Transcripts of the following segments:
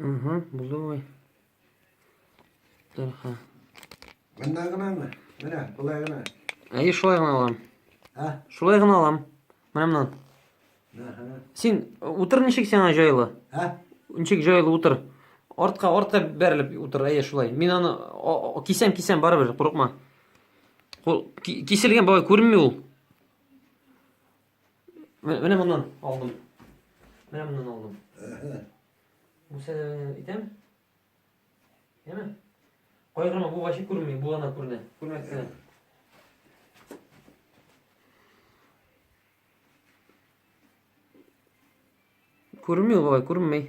Угу, булды бабай. Дәрха. Монда гынамы? Менә, болай гына. Әйе, шулай гына алам. Ә? Шулай гына алам. Менә моннан. Әһә. Син утыр ничек сиңа җайлы? Ә? Ничек җайлы утыр? Артка, артка бәрелеп утыр, әйе, шулай. Мин аны кисәм, кисәм, барыбер, курыкма. Кисел ген бабай күренми ул. Менә моннан алдым. Менә моннан алдым. Бу сәнәне итәм. Яме? Кайгырма, бу вачи күрми, бу ана күренә. Күрмәк кенә. Күрми ул бабай, күрмей.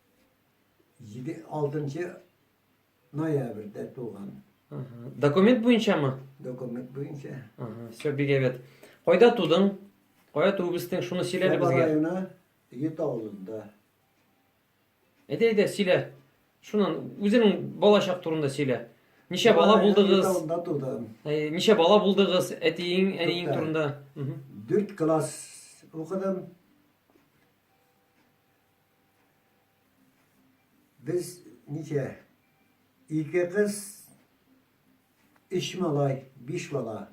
Җиде, алтынчы ноябрьдә туган. Ага. Документ буенчамы? Документ буенча. Ага, все, бик әйбәт. Кайда тудың? Кая туып үстең? Шуны сөйлә әле Саба безгә. районы Ет авылында. Әйдә, әйдә, сөйлә. Шуннан үзеңнең балачак турында сөйлә. Ничә бала Саба районы Ет булдыгыз? авылында тудым. Ә, Ничә бала булдыгыз? Әтиең, әниең Тукта. турында. Мгм. Дүрт класс укыдым. Без ничә? Ике кыз, өч малай, биш бала.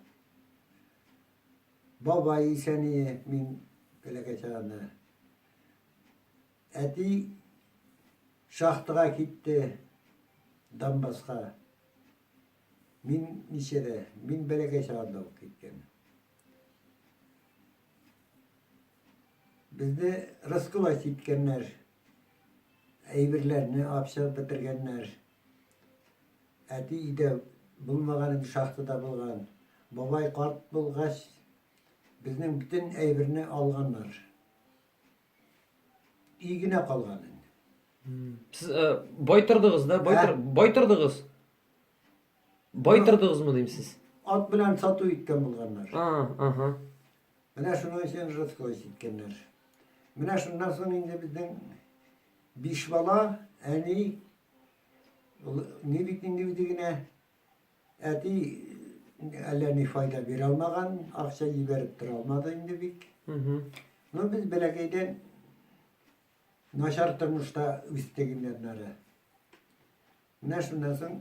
Бабай исәние мин бәләкәй чагында. Әти шахтага китте Донбасска. Мин ничәдә? Мин бәләкәй чагында ук киткән. Безне раскулачить иткәннәр, әйберләрне абчап бетергәннәр. Әти өйдә булмаган инде, шахтада булган. Бабай карт булгач, безнең бөтен әйберне алганнар. Өй генә калган инде. Сез э, бай тордыгыз да? Бай, тор, бай тордыгыз? Бай тордыгызмы дим сез? Ат белән сату иткән булганнар. А, ага. Менә шуның өчен Жидкоис иткәннәр. Менә шуннан соң инде безнең биш бала, әни, ни бит инде үзе генә, әти әллә ни файда бирә алмаган, акча җибәреп тора алмады инде бик. Ну, без бәләкәйдән начар тормышта үстек инде аннары. Менә шуннан соң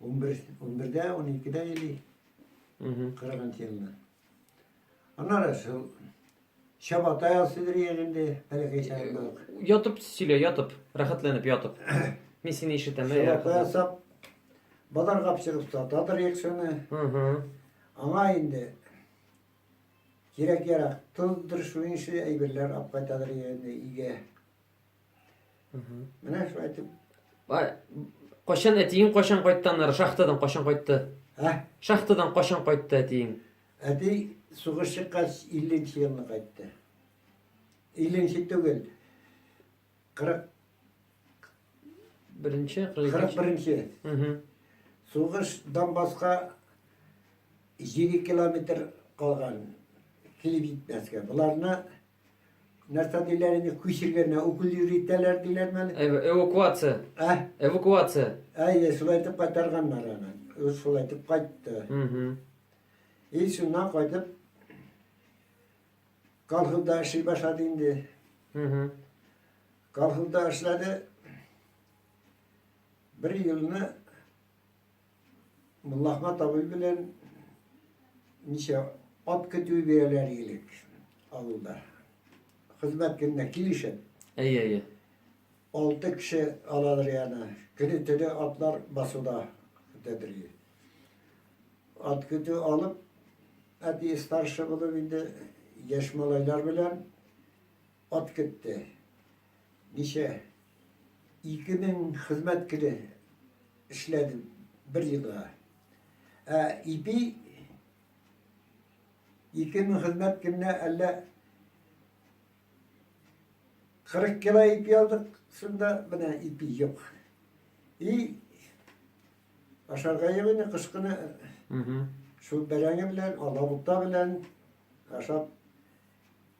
11, 11-дә, 12-дә или 40 елда. Аннары шул Чабата ясыйдыр егенде, бәләкәй чагындак. Ятып сөйлә, ятып, рәхәтләнеп ятып. Мин сине ишетәм. Чабата ясап, базар капчыгып сатадыр екшене. Аңа инде кирәк-ярак, тоздыр, шуның ише әйберләр алып кайтадыр егенде, иге. Менә шулай итеп. Кайчан әтиең кайчан кайтты аннары шахтадан кайчан кайтты? Ә? Шахтадан кайчан кайтты әтиең? Әти сугыш чыккач 50 елны кайтты. 50 түгел. 40 Беренче, 41-нче. Угу. Сугыш Донбасска 7 километр калган. Килеп җитмәскә. Буларны нәрсә диләр инде күчергәннәр укол йөртәләр диләр мәне эвакуация ә эвакуация әйе шулай итеп кайтарганнар аны ул шулай итеп кайтты и шуннан кайтып колхозда эшли башлады инде колхозда эшләде бер елны Мулла Ахмат абый белән ничә ат көтүе бирәләр идек авылда. Хезмәт көненә килешеп. Әйе, әйе. Алты кеше алалар яна. Көне төне атлар басуда көтәдер иде. Ат көтү алып, әти старший булып инде яшь малайлар белән Ат көтте. Ничә? Ике мең хезмәт көне эшләдем бер елга. Ә ипи ике мең хезмәт көненә әллә 40 кило ипи алдык, шунда менә ипи юк. И ашарга юк инде кыш көне. Шул бәрәңге белән, алабута белән ашап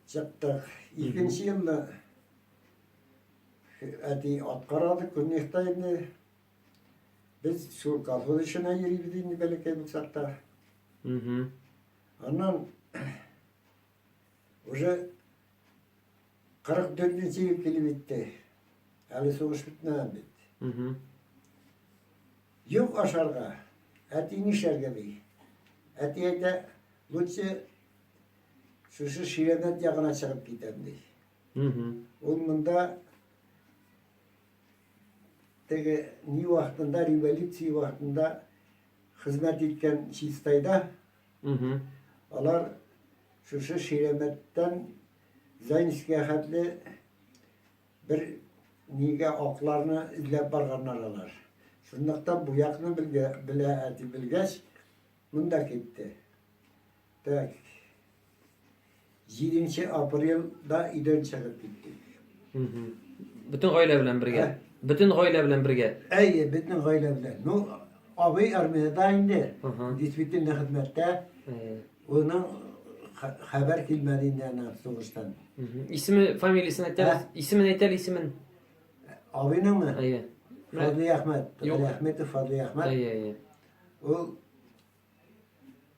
Чыктык. Икенче елны әти ат карады, көнлектә инде. Без шул колхоз эшенә йөрибез инде бәләкәй булсак та. Аннан уже 44 нче ел килеп итте. Әле сугыш бетмәгән бит. Юк ашарга, әти нишләргә ди. Әти әйтә, лучше Шушы Ширәбәт ягына чыгып китәм ди. Ул монда теге ни вакытында, революция вакытында хезмәт иткән Чистайда алар шушы Ширәбәттән Зайнскига хәтле бер нигә акларны эзләп барганнар алар. Шунлыктан бу якны белгә, белә, ди белгәч, Монда китте. Так. 7 апрельда өйдән чыгып киттек. Бөтен гаилә белән бергә. Бөтен гаилә белән бергә. Әйе, бөтен гаилә белән. Ну, абый армиядә инде. Действительно хезмәттә. Уның хәбәр килмәде инде ана сугыштан. Исеме, фамилиясен әйтәбез. Исемен әйтәле, исемен. Абыйныңмы? Әйе. Фадлый Әхмәт. Фадлый Әхмәтов, Фадлый Әхмәт. Әйе, әйе. Ул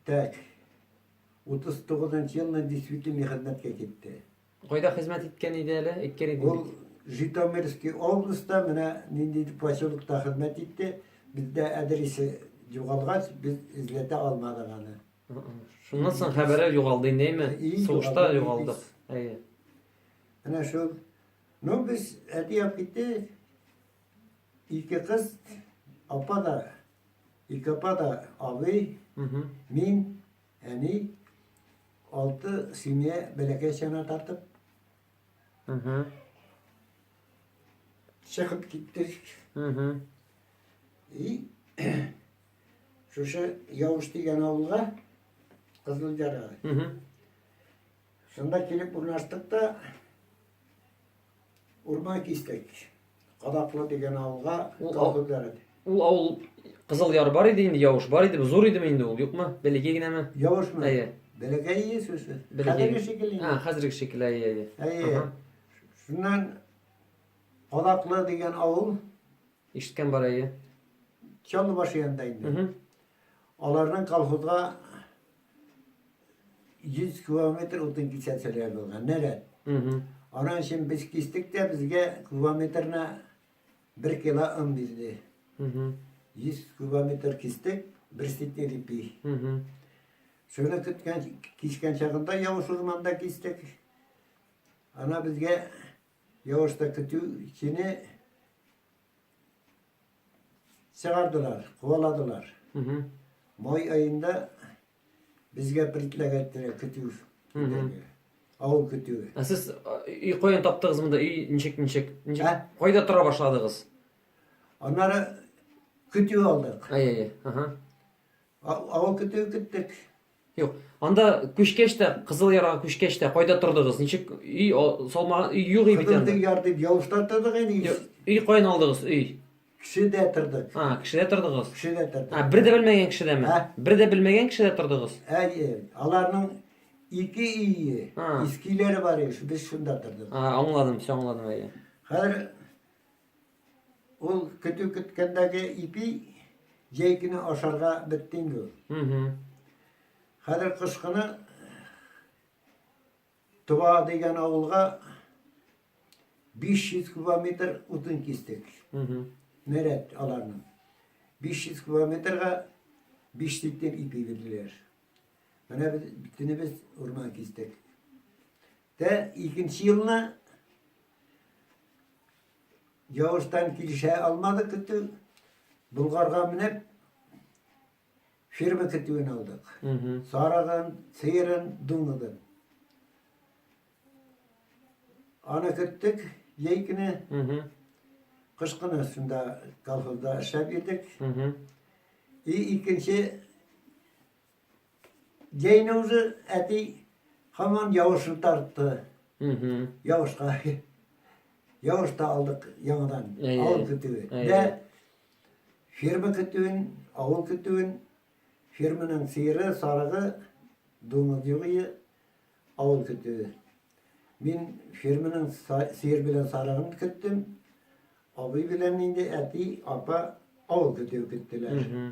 так 39 елына действительный хезмәткә китте. Кайда хезмәт иткән иде әле? Әйткән иде. Ул Житомирский областьта менә нинди поселокта хезмәт итте. Бездә адресы югалгач, без эзләтә алмадык аны. Шуннан соң хәбәре югалды инде, Сугышта югалдык. Әйе. Менә шул. Ну, без әти алып китте. Ике кыз, апа да, ике апа да абый, мин, әни, алты семья бәләкәй чана тартып чыгып киттек. И шушы Явыш дигән авылга Кызылҗарга. Шунда килеп урнаштык та Урмай кистек. Кадаклы дигән авылга Ул тау күпләре. Ул авыл Кызыл Яр бар иде инде, Явыш бар иде, зур идеме инде ул, юкмы? Бәләкәй генәме? Явышмы? Әйе. Бәләкәй ие сүзе. Хәзерге шикелле. А, хәзерге шикелле, әйе, әйе. Әйе. Шуннан Кадаклы дигән авыл. Ишеткән бар әйе. Чаллыбаш янында инде. Аларның колхозга 100 километр утын кисәтелгән булган, нәрәт. Анан өчен без кистек тә, безгә километрына 1 кило ын бирде. 100 километр кистек, бер ситер ипи. Шуны көткән, кискән чагында явыш урманда кистек. Ана безгә явышта көтү чине Чыгардылар, куаладылар. Май айында безгә предлагательне көтү. Авыл көтүе. Ә сез өй каян таптыгыз монда? Өй ничек ничек? Ничек? Кайда тора башладыгыз? Аннары көтү алдык. Ай-ай, ага. Авыл көтүе көттек. Юк, анда күчкәч тә, Кызыл Ярга күчкәч тә кайда тордыгыз? Ничек өй салмаган, өй юк бит анда. Кызыл Яр дип Явышта тордык инде. Өй каян алдыгыз, өй? Кешедә тордык. А, кешедә тордыгыз? Кешедә тордык. А, бер дә белмәгән кешедәме? Ә? Бер дә белмәгән кешедә тордыгыз? Әйе, аларның ике өе, искиләре бар иде, без шунда тордык. А, аңладым, все аңладым, әйе. Хәзер Ул көтү көткәндәге ипи җәй көне ашарга бетте инде ул. Хәзер кыш көне Туа дигән авылга 500 километр утын кистек. Нәрәт аларның. 500 километрга 5 литр ипи бирделәр. Менә без битенебез урман кистек. Тә икенче елны Явызтан килешә алмады көтү. Болгарга менеп, фирма көтүен алдык. Сарыгын, сыерын, дуңгыгын. Аны көттек, ей көне. Кыш көне шунда колхозда эшләп йөрдек. И икенче Җәйне үзе әти хаман явышын тартты. Явышка. Явыш та алдык яңадан. Авыл көтүе. Дә ферма көтүен, авыл көтүен, ферманың сыйыры, сарыгы, думыз югые, авыл көтүе. Мин ферманың сыйыр белән сарыгын көттем. Абый белән инде әти, апа авыл көтүе көттеләр.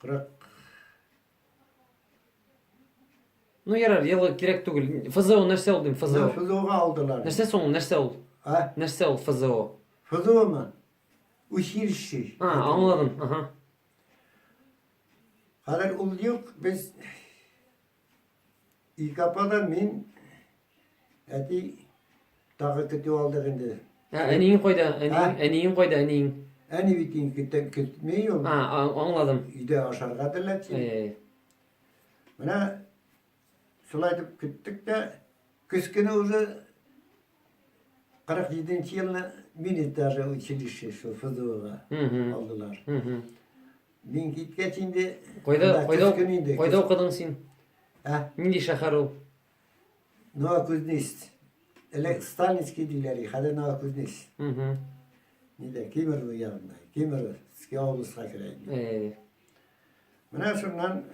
Кырык. Ну ярар, елы кирәк түгел. ФЗО нәрсә ул дим, ФЗО? ФЗОга алдылар. Нәрсә соң, нәрсә ул? А? Нәрсә ул ФЗО? ФЗОмы? Училище. А, аңладым. Ага. Хәзер ул юк, без Илке апа да мин, әти тагы көтү алдык инде. Ә, әниең кайда? Әниең, әниең кайда, әниең? Әни бит инде көтә көтмей ул. А, аңладым. Өйдә ашарга әзерләтсен. Әй. Менә шулай итеп көттек тә, көз көне уже 47 елны мине даже училище, шул ФЗОга алдылар. Мин киткәч инде... Кайда, кайда, кайда укыдың син? Ә? Нинди шәһәр ул? Новокузнецк. Элек Сталинский диләр, хәзер Новокузнецк. Угу. Нидә, Кемерово янында. Кемеровский областька керә инде. Э. Менә шуннан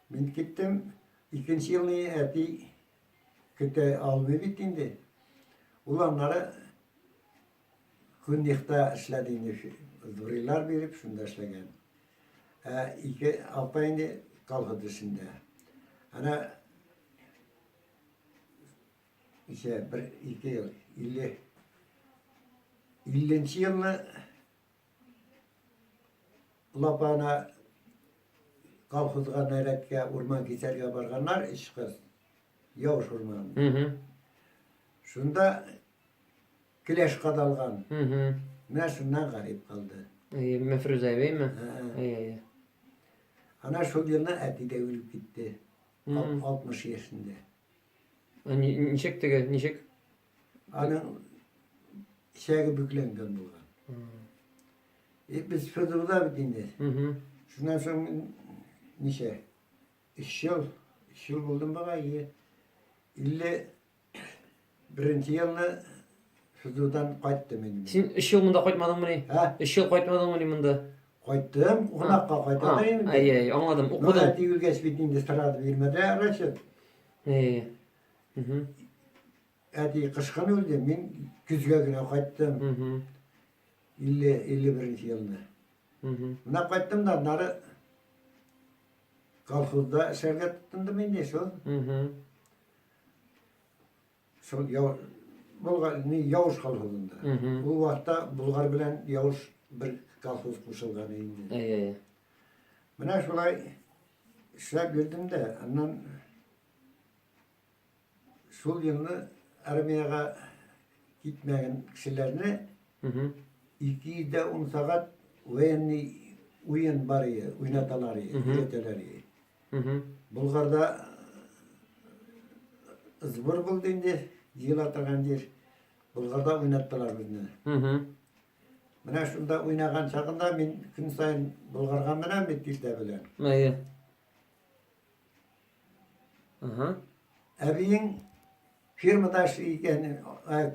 мин киттем. Икенче елны әти көтә алмый бит инде. Ул аннары Куннихта эшләде инде, дурилар биреп, шунда эшләгән. Ә ике апа инде колхоз эшендә. Ана исә бер ике ел, илле илленче елны лапана колхозга нәрәткә урман кисәргә барганнар, өч кыз, Яуш урманында. Шунда Келәш кадалган. Менә шуннан гарип калды. Әйе, Мәфрүзә әбейме? Әйе, әйе. Ана шул елны әти дә үлеп китте. 60 яшендә. Ничек теге, ничек? Аның ишәге бүкләнгән булган. И без Федорда бит инде. Шуннан соң ничә? 3 ел, 3 ел булдым бага, 50 Беренче елны Сызудан кайттым инде. Син өч ел монда кайтмадыңмы ни? Ә? Өч ел кайтмадыңмы ни монда? Кайттым, кунакка кайтам инде. Әй, әй, аңладым. Укыдым. Монда тигелгәч бит инде сразу бирмәде Рәшит. Әй. Угу. Әти кышкын үлде, мин көзгә генә кайттым. Угу. 50 51 елны. Угу. Менә кайттым да нары колхозда эшләргә тотындым инде шул. Угу. Шул яу Болгар не Яуш колхозында. Ул вакытта Болгар белән Яуш бер колхоз кушылган инде. Әйе, әйе. Менә шулай эшләп йөрдем дә, аннан шул елны армиягә китмәгән кешеләрне 210 сәгать военный уен бар иде, уйнаталар иде, өйрәтәләр иде. Болгарда сбор булды инде, җыела торган җир. Болгарда уйнаттылар безне. Менә шунда уйнаган чагында мин көн сайын Болгарга менәм бит иртә белән. Әйе. Ага. Әбиең фирмада эшли икән,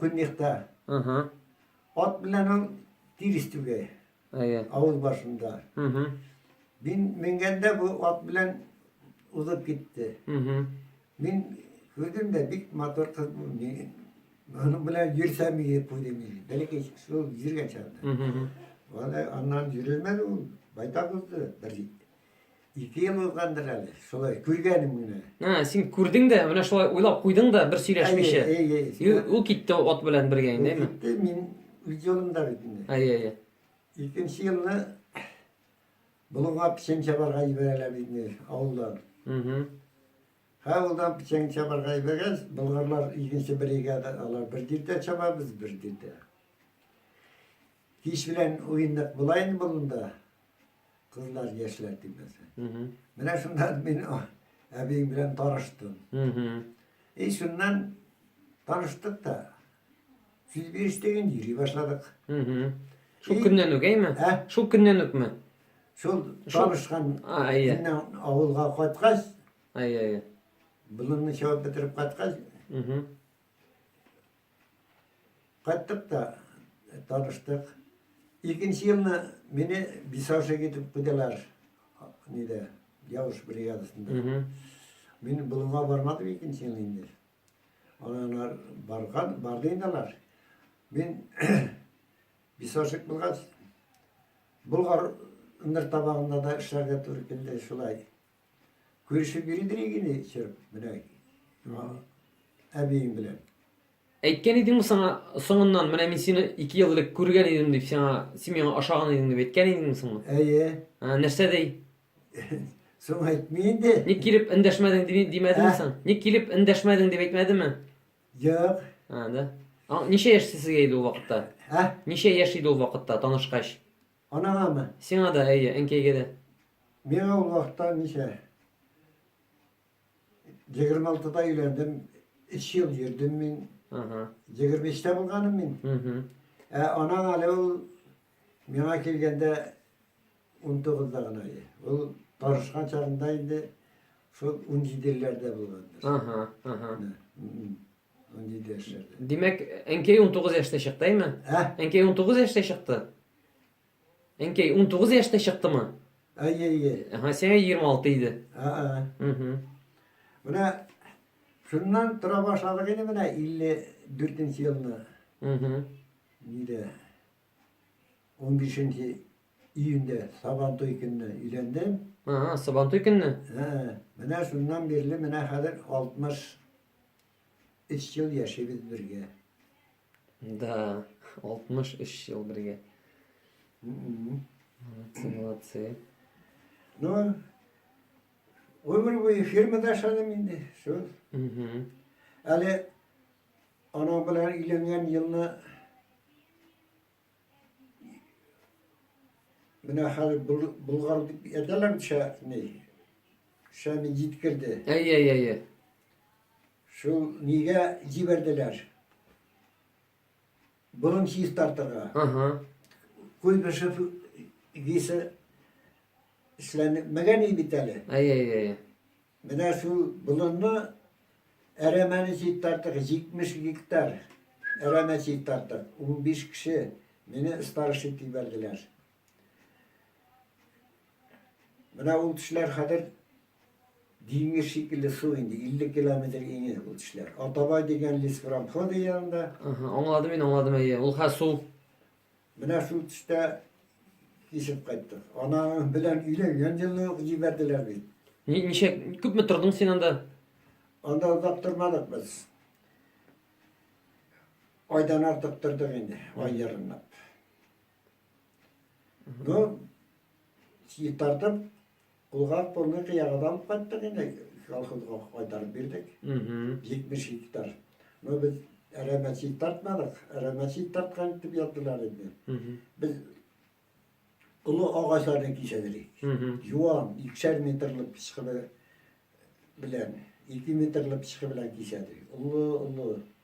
Көньякта. Ага. Ат белән ул тирис түгә. Әйе. Авыл башында. Мин менгәндә бу ат белән узып китте. Мин күрдем дә бик матур кыз бу. Аның белән йөрсәм иде күрдем иде. Бәлки шул йөргән чагында. Аны аннан йөрелмәде ул. Байтак узды бер җит. Ике ел узгандыр әле, шулай күргәнем генә. Ә, син күрдең дә, менә шулай уйлап куйдың да, бер сөйләшмичә. Әйе, әйе, әйе. И ул- Ул китте ат белән бергә инде, әйме? Китте, мин үз юлымда бит инде. Әйе, әйе. Икенче елны Болынга печән чабарга җибәрәләр бит инде авылдан. Мгм. Һәм авылдан печән чабарга җибәргәч, болгарлар икенче бригада, алар бер тиртә чаба, без бер тиртә. Кич белән уйындык була инде болында. Кызлар яшьләр тимәсә. Менә шунда мин әбиең белән таныштым. И шуннан таныштык та. Сүз бирештеген йөри башладык. Шул көннән үк, әйме? Ә? Шул көннән үкме? Шул танышкан көннән авылга кайткач, әйе, әйе. Болынны чабып бетереп кайткач, Кайттык та таныштык. Икенче елны мине бисаушек итеп куйдылар. Нидә? Явыш бригадасында. Мин болынга бармадым икенче ел инде. Алар барган, барды инде алар. Мин бисаушек булгач, Болгар ындыр табагында да эшләргә туры килде шулай. Күрешеп йөридер егене чырып, менә әбиең белән. Әйткән идең саңа соңыннан, менә мин сине ике ел элек күргән идем дип, сиңа семьяңа ашаган идең дип әйткән идең соңы? Әйе. Ә, нәрсә дей? Соң әйтми инде. Ник килеп эндәшмәдең дип димәдеме ә? соң? Ник килеп эндәшмәдең дип әйтмәдеме? Юк. А, да. А, ничә яшь сезгә иде ул вакытта? Ә? Ничә яшь иде ул вакытта танышкач? Анаңамы? Сиңа да, әйе, әнкәйгә дә. Миңа ул вакытта ничә? Егерме алтыда өйләндем, өч ел йөрдем мин. Ага. Егерме эчтә булганым мин. Мгм. Ә анаң әле ул миңа килгәндә ун тугызда гына иде. Ул тарышкан чагында инде шул ун җиделәрдә булгандыр. Ага, ага. Мгм. Андый дәһшәт. Димәк, әнкәй 19 яшьтә чыкты, әйме? Ә? Әнкәй 19 яшьтә чыкты. Әнкәй 19 яшьтә чыктымы? Әйе, әйе. Ага, сиңа 26 иде. Ага. Угу. Менә шуннан тора башладык инде менә 54 елны. Угу. Нидә? 15 июньдә Сабантуй көнне өйләндем. Ага, Сабантуй көнне? Ага. Менә шуннан бирле менә хәзер 60 Өч ел яшибез бергә. Да, 63 ел бергә. М-м-м. Молодцы, молодцы. Ну, өмір бойы фирмада ашадым инде, шул. Әле анау белән өйләнгән елны Менә хәзер Болгар дип әйтәләр бит шәһәрне. Шәһәрне җиткерде. Әй, әй, әй, әй. Шул нигә җибәрделәр? Борын чистартырга. Ага. Куйбышев висе эшләнмәгән бит әле. Әй, әй, әй. Менә шул болынны әрәмәне читтартык, 70 гектар әрәмә читтартык. 15 кеше мине старош итеп ебәрделәр. Менә ул тешләр хәзер диңгез шикелле су инде, 50 километр иңе ул тешләр. Атабай дигән леспромхоз янында. Аңладым мин, аңладым әйе. Ул хәзер су Менә шул төстә кисеп кайттык. Анаң белән өйләнгән елны ук җибәрделәр бит. Ни- Ничә күпме тордың син анда? Анда озак тормадык без. Айдан артык тордык инде, ай ярымлап. Ну, тартып, Кулга кулны кыягыда алып кайттык инде, колхозга кайтарып бирдек. 70 гектар. Но без әрәмә чит тартмадык, әрәмә чит тарткан дип яздылар инде. Без олы агачларны кисәдерик. Юан, икшәр метрлы пычкы белән, ике метрлы пычкы белән кисәдерик. Олы, олы.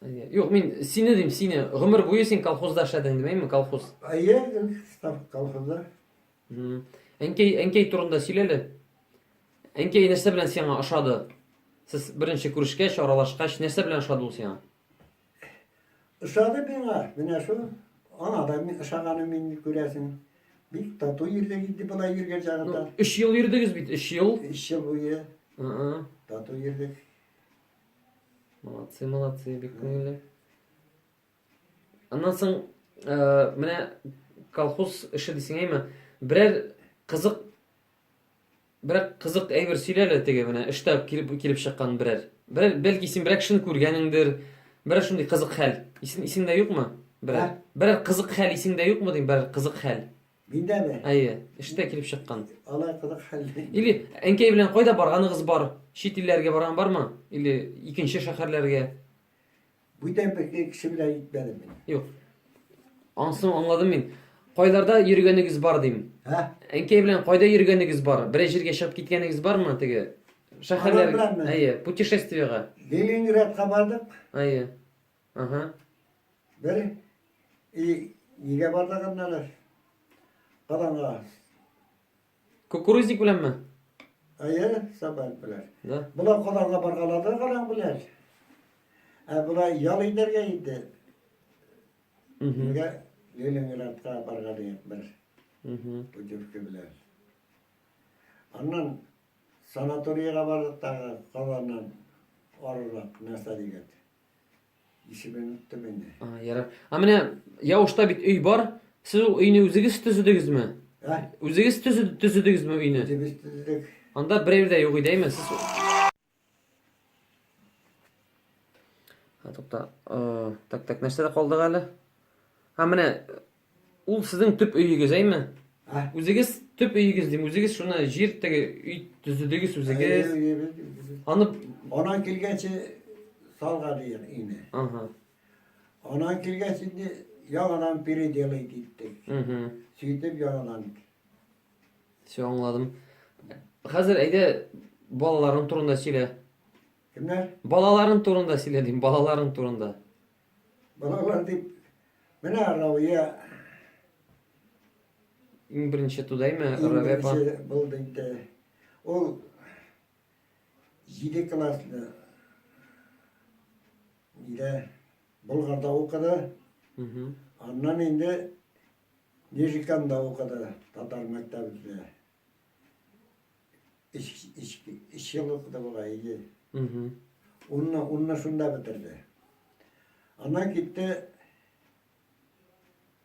Юк, мин сине дим, сине. Гомер буе син колхозда эшләдең, димәйме, колхоз? Әйе, став колхозда. Әнкәй, әнкәй турында сөйләле. Әнкәй нәрсә белән сиңа ошады? Сез беренче күрешкәч, аралашкач, нәрсә белән ошады ул сиңа? Ошады миңа, менә шул. Аңа да мин ошаганым мин күрәсең. Бик тату йөрдек инде болай йөргән чагында. Өч ел йөрдегез бит, өч ел. Өч ел буе. Тату йөрдек. Молодцы, молодцы, бик күңелле. Аннан соң, ә, э, менә колхоз эше дисең әйме, берәр кызык берәр кызык әйбер сөйләле теге менә эштә килеп килеп чыккан берәр. Берәр бәлки син берәр кешене күргәнеңдер, берәр шундый кызык хәл. Исең исеңдә юкмы? Берәр берәр кызык хәл исеңдә юкмы дим, берәр кызык хәл. Миндә ме? Әйе, эштә килеп чыккан. Алай кызык хәл. Или әнкәй белән кайда барганыгыз бар? Чит илләргә барган бармы? Или икенче шәһәрләргә? Бүтән бер кеше белән итмәдем мин. Юк. Ансын аңладым мин. Кайларда йөргәнегез бар дим. Ә? Әнкәй белән кайда йөргәнегез бар? Берәр җиргә чыгып киткәнегез бармы теге? Шәһәрләр. Әйе, путешествиега. Ленинградка бардык. Әйе. Ага. Бер и игә бардагын әле. Караңга. Кукурузник беләнме? Әйе, сабан белән. Да. Болар караңга баргалады караң белән. Ә болар ял итәргә инде. Нигә Ленинградка барган идек бер. Путевка белән. Аннан санаторийга бардык тагы, калганнан арырак нәрсә дигән. Исемен оттым инде. А, ярар. А менә Яушта бит өй бар. Сез ул өйне үзегез төзедегезме? Ә? Үзегез төзедегезме өйне? Үзебез төзедек. Анда берәү дә юк иде, әйме? Сез Тукта. Так, так, нәрсәдә калдык әле? Һәм менә Ул сезнең төп өегез, әйме? Ә? Үзегез төп өегез дим, үзегез шуны җир теге өй төзедегез үзегез. Аны Анан килгәнче салган ир ине. Ага. Анан килгәч инде яңадан переделай диттек. Угу. Сөйтеп яңадан. Все аңладым. Хәзер әйдә балаларың турында сөйлә. Кемнәр? Балаларың турында сөйлә дим, балаларың турында. Балалар дип, менә Рауя. Иң беренче тудайме Рауя апа? Булды инде. Ул 7 классны нидә Болгарда укыды. Аннан инде Нижиканда укыды татар мәктәбендә. Ич, ич, ич ел укыды була, иде. Унны, унны шунда бетерде. Аннан китте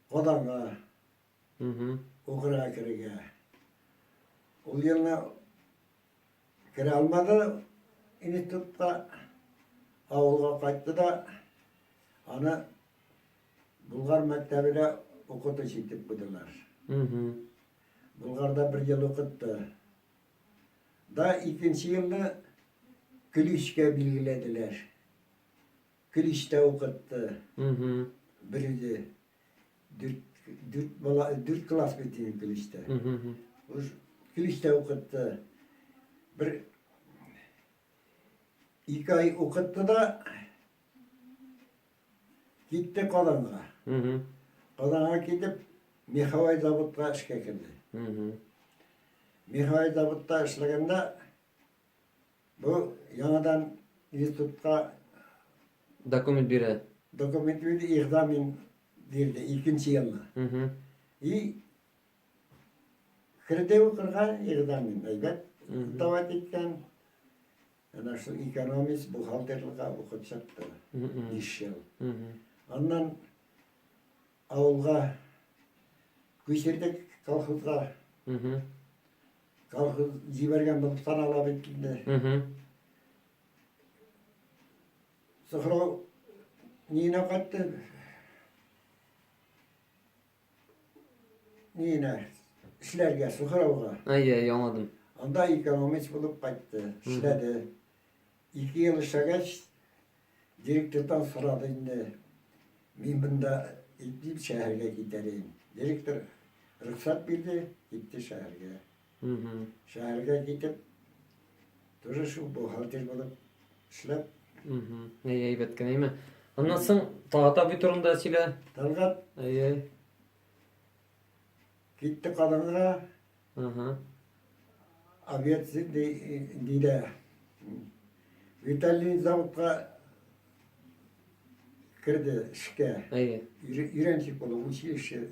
Казанга. Укырга керергә. Ул елны керә алмады институтка, авылга кайтты да, аны Булгар мәктәбенә укытучы итеп куйдылар. Болгарда бер ел укытты. Да икенче елны Көличкә билгеләделәр. Көличтә укытты. Бер үзе. Дүрт класс бит инде Көличтә. Көличтә укытты. Бер ике ай укытты да, Китте Казанга. Казанга китеп, Михавай заводка эшкә керде. Михавай заводта эшләгәндә бу яңадан институтка документ бирә. Документ бирде, экзамен бирде икенче елны. И керде укырга экзамен, әйбәт давать иткән. Әнә шул экономист бухгалтерлыкка укып чыкты. Биш ел. Аннан авылга күчердек колхозга. Колхоз җибәргән булып санала бит инде. Сухрау нина кайтты. Нина, эшләргә, сухрауга. Әйе, яңладым. Анда экономист булып кайтты, эшләде. Ике ел эшләгәч, директордан сорады инде. Мин бында итеп шәһәргә китәрен. Директор рөхсәт бирде, китте шәһәргә. Шәһәргә китеп, тоже шул бухгалтер булып эшләп. Әй, әйбәт кенә, әйме? Аннан соң Талгат абый турында сөйлә. Талгат. Әй, Китте Казанга. Ага. Обед диде. Виталий заводка кірді ішке үйреншік болды училище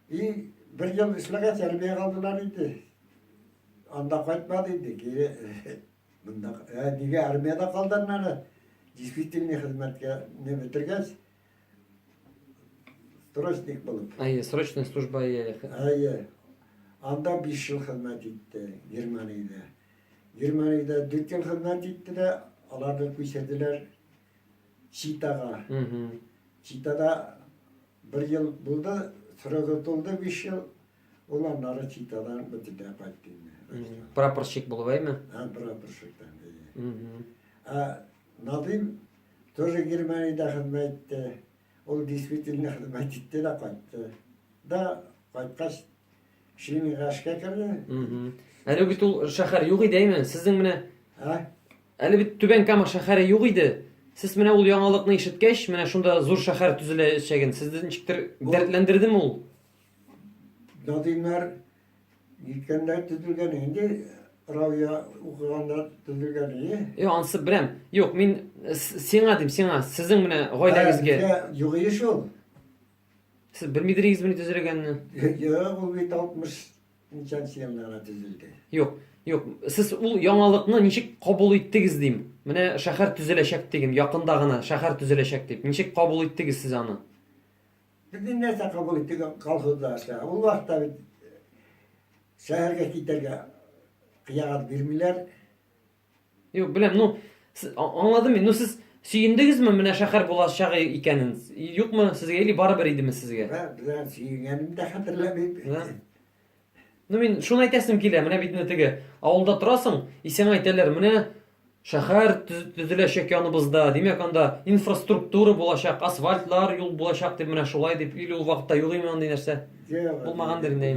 И бер ел эшләгәч, Әлбия калдылар иде. Анда кайтмады иде, кире монда. Ә нигә армиядә калдың әле? Действительный хезмәткә не бетергәч, срочник булып. Әйе, срочная служба әйе. Әйе. Анда 5 ел хезмәт итте Германиядә. Германиядә 4 ел хезмәт итте дә, аларны күчерделәр Читага. Читада бер ел булды, срогы тулды биш ел. Ул аннары Читадан бөтенләй кайтты инде. Прапорщик булып әйме? Ә, прапорщиктан. Ә Надим тоже Германиядә хезмәт итте. Ул действительно хезмәт итте дә кайтты. Да кайткач Шими гашка керде. Әле бит ул шәһәр юк иде, әйме? Сезнең менә Ә? Әле бит Түбән Кама шәһәре юк иде. Сез менә ул яңалыкны ишеткәч, менә шунда зур шәһәр төзеләчәген сезне ничектер дәртләндердеме ул? Надимнар җиткәндә төзелгән инде, Равия укыганда төзелгән инде. Е, ансы беләм. Юк, мин сиңа дим, сиңа, сезнең менә гаиләгезгә. Югыйш ул. Сез белмидегезме ни төзелгәнне? Юк, ул бит 60 ничәнче елда гына төзелде. Юк, юк. Сез ул яңалыкны ничек кабул иттегез дим. Менә шәһәр төзеләчәк дигем, якында гына шәһәр төзеләчәк дип. Ничек кабул иттегез сез аны? Без нәрсә кабул иттек колхозда эшлә. Ул вакытта бит э, шәһәргә китәргә кыягат бирмиләр. Юк, беләм, ну, аңладым мин, ну, сез сөендегезме менә шәхәр булачагы икәнен? Юкмы сезгә или барыбер идеме сезгә? Беләм, сөенгәнемне дә хәтерләмим. Ну, мин шуны әйтәсем килә, менә бит теге авылда торасың, исең әйтәләр, менә шәхәр төзеләчәк яныбызда, димәк, анда инфраструктура булачак, асфальтлар, юл булачак дип, менә шулай дип, или ул вакытта юк име андый нәрсә? Булмагандыр инде.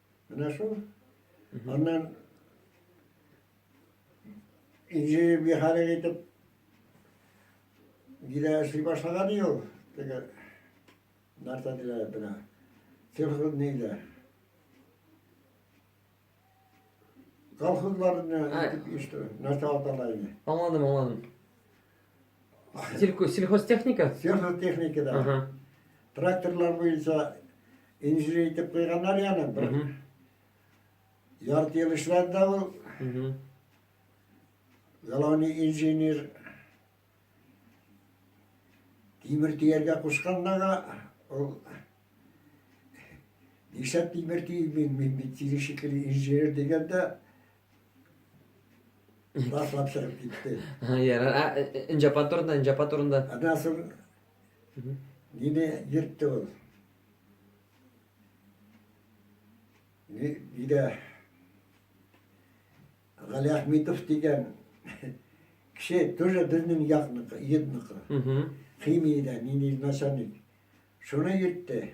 Менә шул. Аннан инженер механик итеп гидә эшли башлаган ди ул. Теге нәрсә диләр бина. Сельхоз нидә? Колхозларны итеп иштер. Нәрсә атала иде. Аңладым, аңладым. Сельхозтехника? Сельхозтехника, да. Тракторлар буенча инженер итеп куйганнар яны бер ярты ел эшләде дә ул. Главный инженер тимер төяргә кушканнага ул нишләп тимер төймим мин бит тире шикелле инженер дигәндә Башлап чыгып китте. Ярар. Ә, э, э, Инҗапа турында, Инҗапа турында. Аннан соң мине йөртте ул. Ни- Нидә Гали Ахметов дигән кеше тоже безнең якныкы, йөдныкы. Мгм. Химиядә, нинди начальник. Шуны йөртте.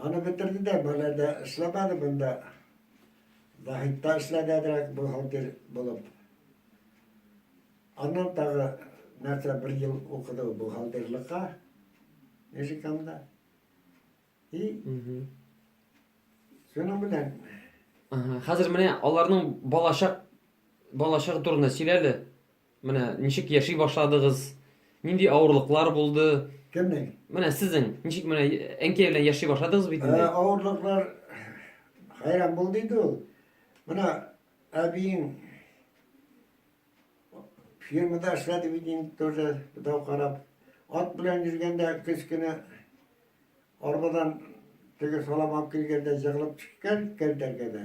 Аны бетерде дә, болай да эшләмәде монда. Заһитта эшләгәнрәк бу фатир булып. Аннан тагы нәрсә бер ел укыды ул бухгалтерлекка Межикамда. И шуның белән Ага. Хәзер менә аларның балачак балачагы турында сөйлә әле. Менә ничек яши башладыгыз? Нинди авырлыклар булды? Кемнең? Менә сезнең ничек менә әнкәй белән яши башладыгыз бит инде. Ә, авырлыклар хәйран бул диде ул. Менә әбиең фирмада эшләде бит инде тоже дау карап. Ат белән йөргәндә кечкенә арбадан теге салам алып килгәндә җыгылып төшкән кәртәгә дә.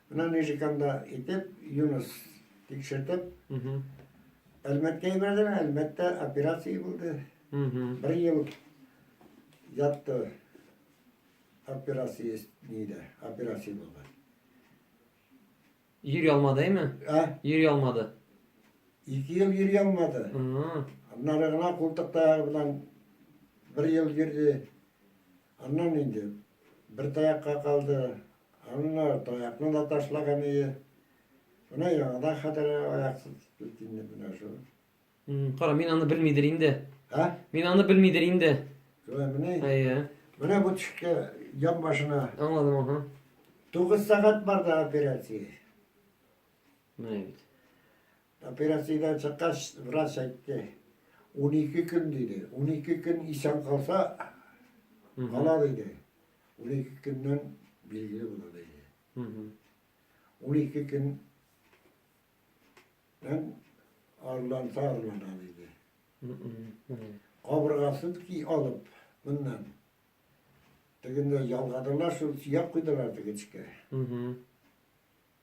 Менә Нижиканда итеп, Юнус тикшертеп, Әлмәткә ебәрдем, Әлмәттә операция булды. Бер ел ятты операция нидә, операция булды. Йөри алмадымы? Ә? Йөри алмады. Ике ел йөри алмады. Аннары гына култыкта белән бер ел йөрде. Аннан инде бер таякка калды, анна таякны да ташлаган ие. Менә яңадан хәтер аяксыз килде инде менә шул. Кара, мин аны белмидер инде. Ә? Мин аны белмидер инде. Шулай менә. Әйе. Менә бу төшкә ян башына. Аңладым, аха. 9 сәгать барды операция. Менә бит. Операциядән чыккач, врач әйтте, унике көн диде. Унике көн исән калса, кала диде. Унике көннән билгеле була диде. Унике көннән арыланса арылана диде. Кабыргасын ки алып, моннан. Тегендә ялгадылар, шул сөяк куйдылар тегечкә.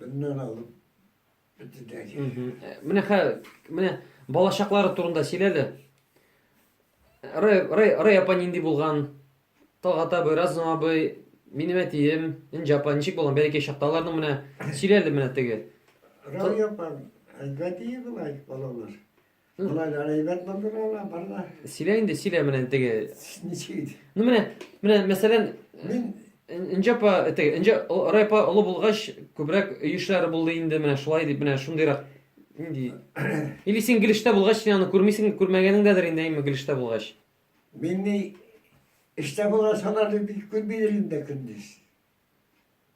Буннан алып бетедәге. Э, менә хәзер менә балачаклары турында сөйләде. Рэй Рэй Рэй апа нинди булган? Талгат абый, Разым абый, минем әтием, Инҗа апа ничек булган? Бәләкәй чакта аларның менә сөйләде менә теге. Рэй апа, әйбәт иде былай балалар. Болай да әйбәт булды ала, барда. Сөйлә инде, сөйлә менә теге. Ничек? Ну менә, менә мәсәлән, мин Инҗа апа, теге, Инҗа Рай апа олы булгач, күбрәк өй эшләре булды инде, менә шулай дип, менә шундыйрак. Инде. Или син Гилештә булгач, син аны күрмисең, күрмәгәнеңдәдер инде, әйме Гилештә булгач. Мин ни эштә булган саларны бик күрмидер инде көндез.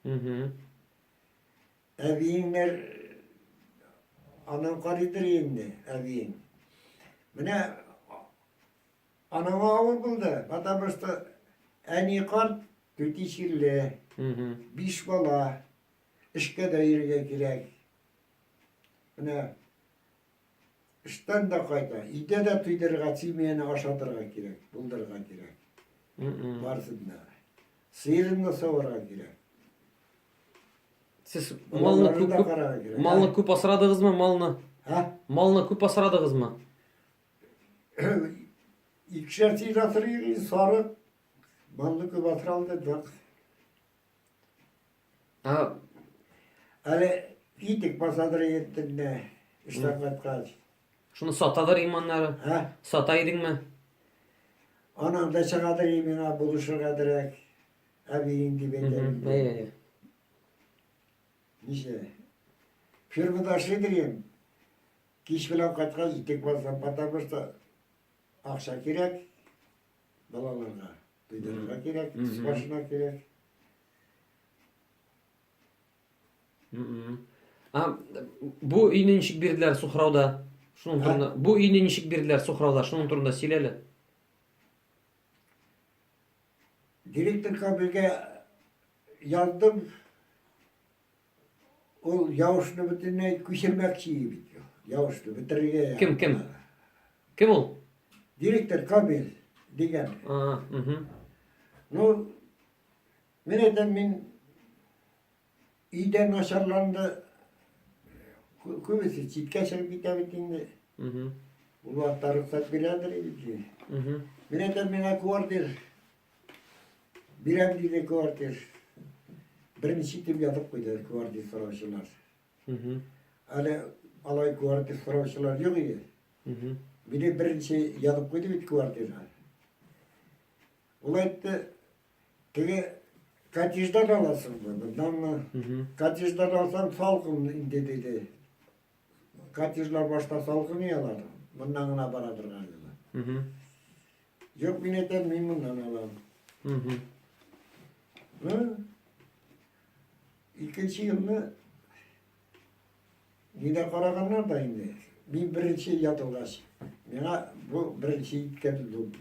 Угу. Әбиеңнәр анан карыйдыр инде, әбиең. Менә анаңа авыр булды, потому что әни карт түти чирле, биш бала, эшкә дә йөрергә кирәк. Менә Эштән дә кайта. Өйдә дә туйдырырга, семьяны ашатырга кирәк, булдырырга кирәк. Барысын да. Сыерын да саварга кирәк. Сез малны күп, күп малны күп асрадыгызмы малны? Һә? Малны күп асрадыгызмы? Икешәр сыер асрыйк, сарык. Малны күп асралды, да. А, әле итек басадыр еттем дә, эштән кайткач. Шуны сатадыр иманнары. Ә? Сата идеңме? Аның да чыгадыр имена булышырга дирәк. Әбиең дип әйтәм. Әйе. Ничә? Фирмада эшлидер ем. Кич белән кайткач, итек басам, потому что акча кирәк балаларга, өйләргә кирәк, башына кирәк. А, бу өйне ничек бирделәр сухрауда? Шуның турында. Бу өйне ничек бирделәр сухрауда? Шуның турында сөйләле. Директорга бергә яздым. Ул явышны бөтенләй күчермәкче бит. Явышны бетерергә. Кем кем? Кем ул? Директор Камил дигән. А, угу. Ну, Мин әйтәм, мин өйдә начарланды, күбесе читкә чыгып китә бит инде. Ул вакытта рөхсәт бирәдер иде. Мин әйтәм, миңа квартир бирәм диде квартир. Беренче итеп язып куйды квартир сораучылар. Әле алай квартир сораучылар юк иде. Мине беренче язып куйды бит квартирга. Ул әйтте, теге коттедждан аласыңмы, мынданмы? Коттедждан алсаң салкын инде диде. Коттеджлар башта салкын иялар, мындан гына бара торган елы. Юк, мин әйтәм, мин мындан алам. Ну, икенче елны нидә караганнар да инде. Мин беренче ятылгач, миңа бу беренче иткән булды.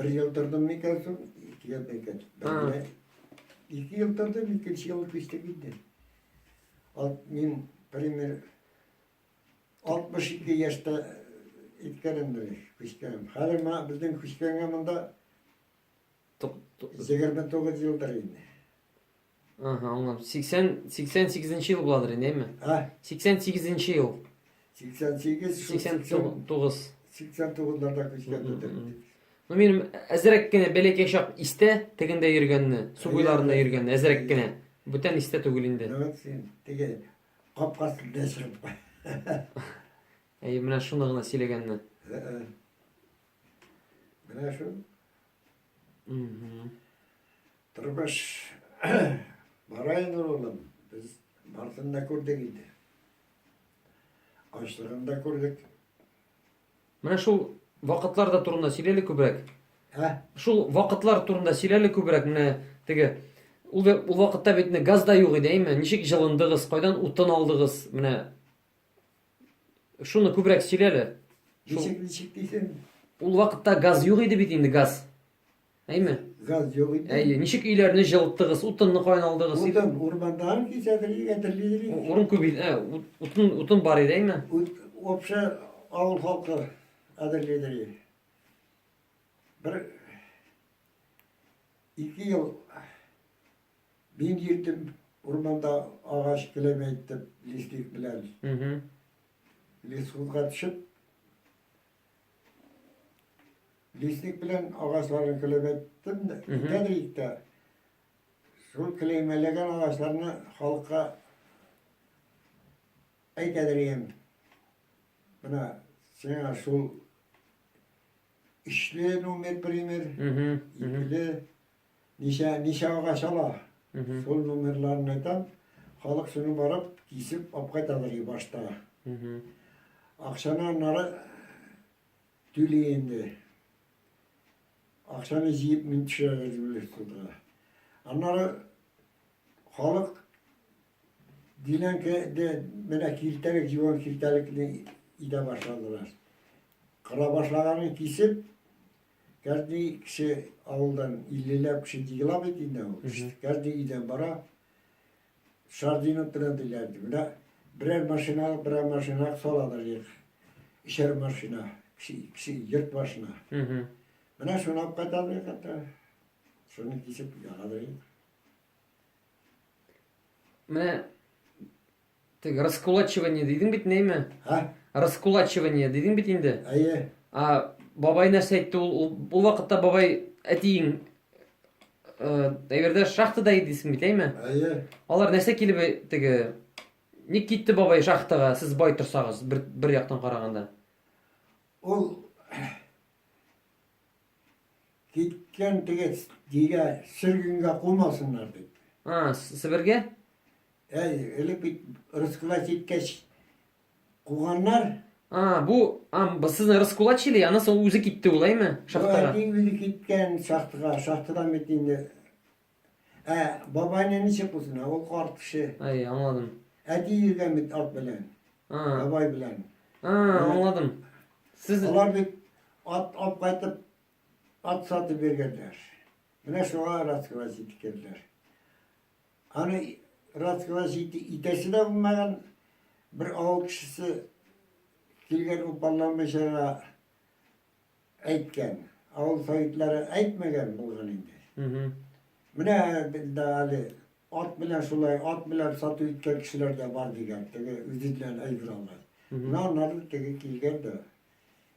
Бер ел тордым микән соң, ике ел микән. Бәлгә. Ике ел тордым, икенче ел күчте китте. Ал, мин, пример, 62 яшьтә иткәнемдер, күчкәнем. Хәзер мына безнең күчкәнгә монда 29 елдыр инде. Ага, аңлап. 80 88 ел буладыр инде, әйме? Ә? 88 ел. 88 89. 89-ларда күчкәндер. Ну, минем әзрәк кенә бәләкәй чак истә, тегендә йөргәнне, су буйларында йөргәнне, әзрәк кенә. Бүтән истә түгел инде. Теге капкасында чыгып. Әй, менә шуны гына сөйләгәнне. Менә шу. Тормыш бара инде улым. Без бартын да күрдек инде. Ачлыгын да күрдек. Менә шул вакытлар да турында сөйләле күбрәк. Ә? Шул вакытлар турында сөйләле күбрәк. Менә теге ул, ул вакытта бит газ да юк иде, әйме? Ничек җылындыгыз? Кайдан утын алдыгыз? Менә Шуны күбрәк сөйлә әле. Ничек, ничек дисең? Ул вакытта газ юк иде бит инде, газ. Әйме? Газ юк иде. Әйе, ничек өйләрне җылыттыгыз, утынны каян алдыгыз? Утын, урмандан кисәдер, гәтерлидер. Урын күп иде, ә, утын, утын бар иде, әйме? Ут, обща авыл халкы әзерлидер. Бер, ике ел Мин йөртем урманда агач келәме әйтеп, лесник белән. Лесхозга төшеп, лесник белән агачларын келәм әйттем дә, итәдер итә. Шул келәймәләгән агачларны халыкка әйтәдер ем. Менә сиңа шул ишле номер пример, икеле, Ничә, ничә агач ала, шул номерларын әйтәм, халык шуны барып, кисеп алып кайталар и башта. Акчаны аннары түли инде. Акчаны җыеп мин төшерәләр дип уйлыйсыз Аннары халык Динәнке де менә килтәлек, җуан килтәлекне идә башладылар. Кыра башлаганын кисеп, кәрди кеше авылдан иллеләп кеше дигела бит инде ул. Кәрди идән бара. Шардинов белән диләр. Менә берәр машина, берәр машина салалар ек. Ишәр машина, кеше, кеше йорт башына. Менә шуны алып кайталар икән. Шуны кисеп ягалар. Менә теге раскулачивание дидең бит нәйме? Ха? Раскулачивание дидең бит инде. Әйе. А бабай нәрсә әйтте ул? Ул, ул вакытта бабай әтиең э, әйбердә шахтада иде дисең бит, әйме? Әйе. Алар нәрсә килеп әй- теге Ник китте бабай шахтага, сез бай торсагыз, бер, бер яктан караганда? Ул Киткән теге дигә сөргенгә кумасыннар дип. А, Себергә? Әй, элек бит рыскылай киткәч куганнар. А, бу, а, сезне раскулачили, аны соң үзе китте улайме? Шахтага. Әти үзе киткән шахтага, шахтадан бит инде Ә бабайны ничек булсын? Ә ул карт кеше. Әй, аңладым. Әти йөргән бит ат белән. А. Бабай белән. А, аңладым. Сез Алар бит ат алып кайтып, ат сатып биргәннәр. Менә шуңа рассказать итеп керделәр. Аны рассказать ите, итәсе дә булмаган бер авыл кешесе килгән упалланмыйчага әйткән. Авыл советлары әйтмәгән булган инде. Менә дә әле ат белән шулай, ат белән сату иткән кешеләр дә бар дигән, теге үзеннән әйбер алмай. Менә аннары теге килгән дә,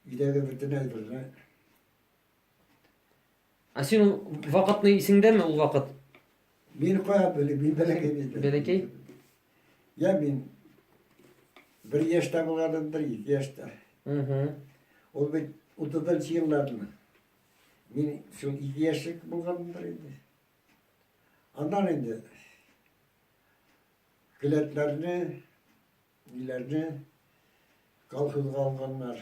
өйдәге бөтен әйберне Ә син ул вакытны исеңдәме ул вакыт? Мин кая белим, мин бәләкәй бит. Бәләкәй? Я мин бер яшьтә булганым, бер ике яшьтә. Угу. Ул бит утызынчы елларны. Мин шул ике яшьлек булганымдыр инде. Аннан инде келәтләрне, ниләрне колхозга алганнар.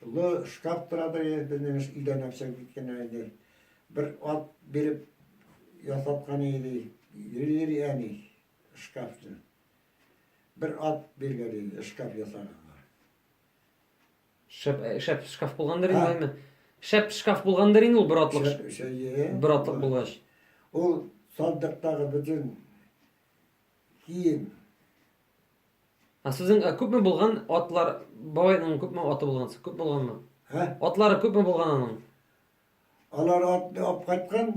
Тулы шкаф тора да иде, безнең өйдә нәрсә киткәннәр иде. Бер ат биреп ясаткан иде, йөри әни шкафны. Бер ат биргән иде, шкаф ясаганга. Шәп, шәп шкаф булгандыр инде, әйме? Шәп шкаф булгандыр инде ул бер атлык. Шәп, шәп, бер атлык булгач. Ул сандыктагы бөтен Кием. А сүзең ә күпме булган атлар бабайның күпме аты булган? Күп булганмы? Һә? Атлары күпме булган аның? Алар атны алып кайткан,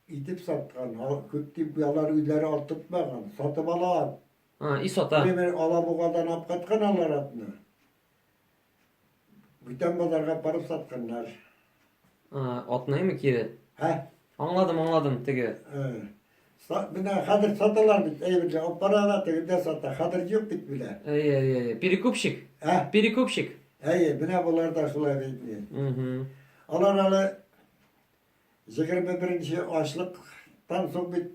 итеп саткан. Күп дип алар үзләре ат тотмаган. Сатып ала ат. А, и сата. Бер алабугадан алып кайткан алар атны. Бүтән базарга барып сатканнар. Атнаймы кире? Хә? Аңладым, аңладым, теге. Менә хәзер саталар бит, әйберле, алып баралар, тегендә сата. Хәзер юк бит менә. Әй, әй, әй, перекупщик. Ә? Перекупщик. Әй, менә болар да шулай бит. Угу. Алар әле 21-нче ашлыктан соң бит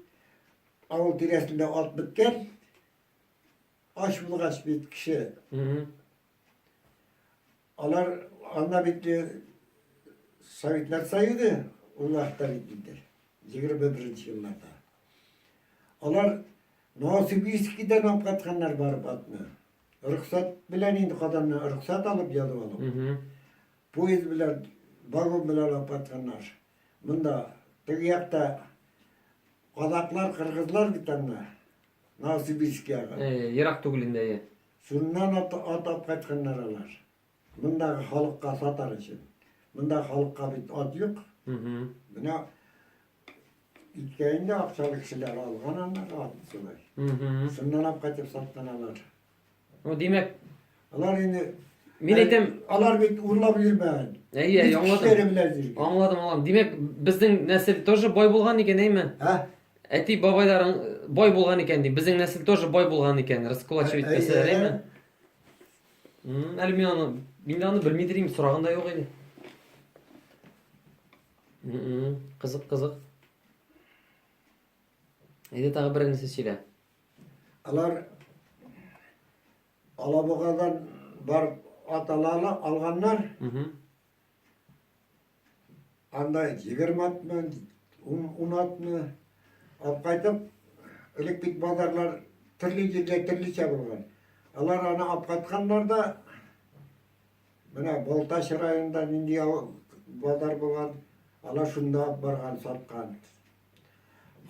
авыл тирәсендә ат беткән. Ач булгач бит кеше. Алар анда бит э, Советлар Союзы улларда бит инде. 21 елларда. Алар Новосибирскидан алып катканнар барып атны. Рөхсәт белән инде каданны рөхсәт алып язып алып. Поезд белән, вагон белән алып катканнар. Монда теге якта казаклар, кыргызлар бит анда. Новосибирскиягә. Э, ерак түгел инде, әйе. Шуннан ат, ат алып кайтканнар алар. Мондагы халыкка сатар өчен. Монда халыкка бит ат юк. Менә иткәйне акчалы кешеләр алган аннары ат шулай. Шуннан алып кайтып саткан алар. Ну, димәк, Алар инде мин әйтәм, алар бит урлап йөрмәгән. әйе, Үз аңладым. көчләре белән йөргән. Аңладым, аңладым. Димәк, безнең нәсел тоже бай булган икән, әйме? Ә? Әти бабайларың бай булган икән ди. Безнең нәсел тоже бай булган икән, раскулачивать Ә- ә- итәсәләр, ә- әйме? М, Әле мин аны, мин дә аны белми дирим, сораган да юк иде. М-м, Кызык, кызык. Әйдә тагы бер нәрсә сөйлә. Алар Алабугадан бар ат алала алганнар. Анда 20 атмы, 10 атмы алып кайтып, элек бит базарлар төрле җирдә төрлечә булган. Алар аны алып кайтканнар да менә Балтач районында нинди базар булган, алар шунда барган саткан.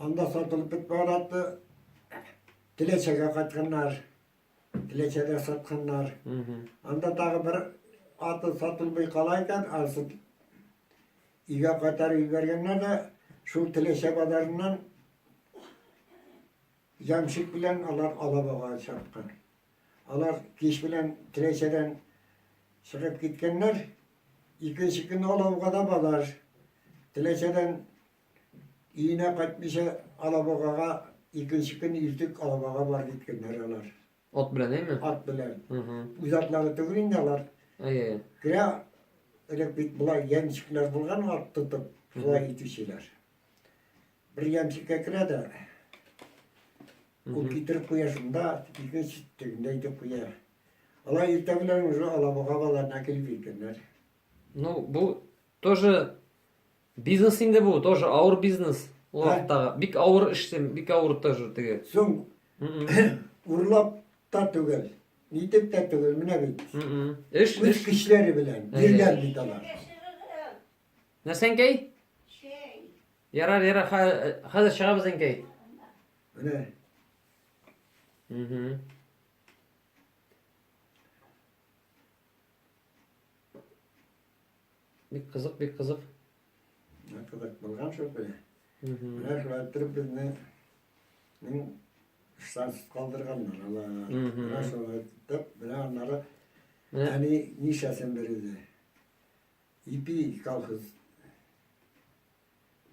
Анда сатылып бетмәгән атны Теләчәгә кайтканнар. Теләчәдә сатканнар. Анда тагы бер аты сатылмый кала икән, анысы өйгә кайтарып җибәргәннәр дә шул Теләчә базарыннан ямщик белән алар Алабага чапкан. Алар кич белән Теләчәдән чыгып киткәннәр. Икенче көнне Алабага да базар. Теләчәдән Өенә кайтмыйча, алабугага икенче көн иртүк алабугага бар киткәннәр алар. Ат белән, әйме? Ат белән. Үз атлары түгел инде алар. Әйе. Грә элек бит болай ямщиклар булган ат тотып, шулай итүчеләр. Бер ямщикка керә дә, ул китереп куя шунда, икенче тегендә итеп куя. Алар иртә белән уже алабуга балаларына килеп җиткәннәр. Ну, бу тоже Бизнес инде бу, тоже авыр бизнес. Ул Ә? вакыттагы. Бик авыр эш, син, бик авыр тоже теге. Соң М-м, урлап та түгел, нитеп тә түгел, менә бит. м-м. Эш, Үз эш. көчләре белән Әйе. биргән бит алар. Нәрсә, Әнкәй? Ярар, ярар, хә- хәзер чыгабыз, Әнкәй. Менә Мгм. Бик кызык, бик кызык. Кызык булган шул бе. Менә шулай иттереп безне мин штансыз калдырганнар. Ала. Менә шулай итеп, менә аннары әни нишәсен бирде. Ипи колхоз